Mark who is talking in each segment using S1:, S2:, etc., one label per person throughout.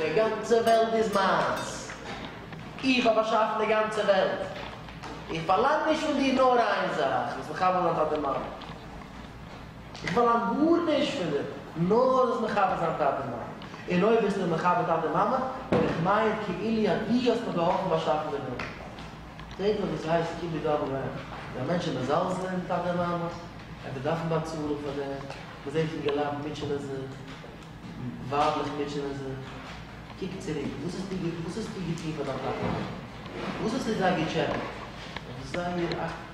S1: די גאנצע וועלט איז מיינס. איך האב באשאפן די גאנצע וועלט. איך פארלאנג נישט פון דיר נאר איין זאך, זאלסט מיך חבר זיין פאר די מאמע. איך פארלאנג גארנישט פון דיר, נאר זאלסט מכבד זיין טאטע און מאמע, און אויב ביסטו מכבד טאטע און מאמע, וועל איך מיינען כאילו אז דו האסט מיר געהאלפן באשאפן די וועלט. פרעג מיך וואס ס'הייסט כיבוד אב ואם, איז א מענטש מזלזל'ן טאטע און מאמע? ער וועט דארפן באצאלן פאר דעם? מ'זעט פון געלאט מוטשענען זיך, ווייבלעך מוטשענען זיך. קוק צוריק, וואס האסטו וואס האסטו געטון פאר דיין טאטע און מאמע? וואס האסטו זיי געטשעפעט? זייער א.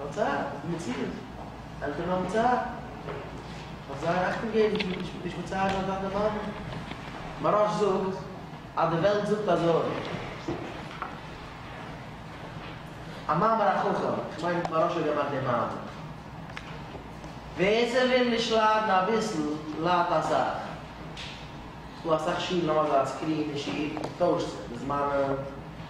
S1: האט זיי א מציאות, עלטערן האבן צער, האט זיי אכטונג געבן זיך נישט מצערן אויף טאטע מאמע. מוהראש זאגט אז די וועלט זאגט אזוי. א מאמר החכם, איך מיין מוהראש האט געמאכט די מאמר. ווער ס'וויל נישט ליידן אביסל, ליידט אסאך. ס'דא אסאך שולן האבן אזא סקרין אין שול, טוישט זיך די זמנים.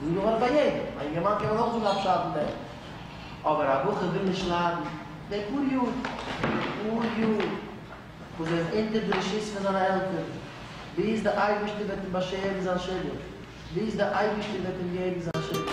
S1: ס'איז דא גמרא ביי יעדעם, א יונגערמאן קען מען אויך זאגן א פשט אין דעם, אבער א בחור וויל נישט ליידן די פאר יאר, די פאר יאר וואס ער איז אונטער די רשות פון זיינע עלטערן, ביז די אייבערשטער וועט אים באשערן זיין שידוך, ביז די אייבערשטער וועט אים געבן זיין שידוך.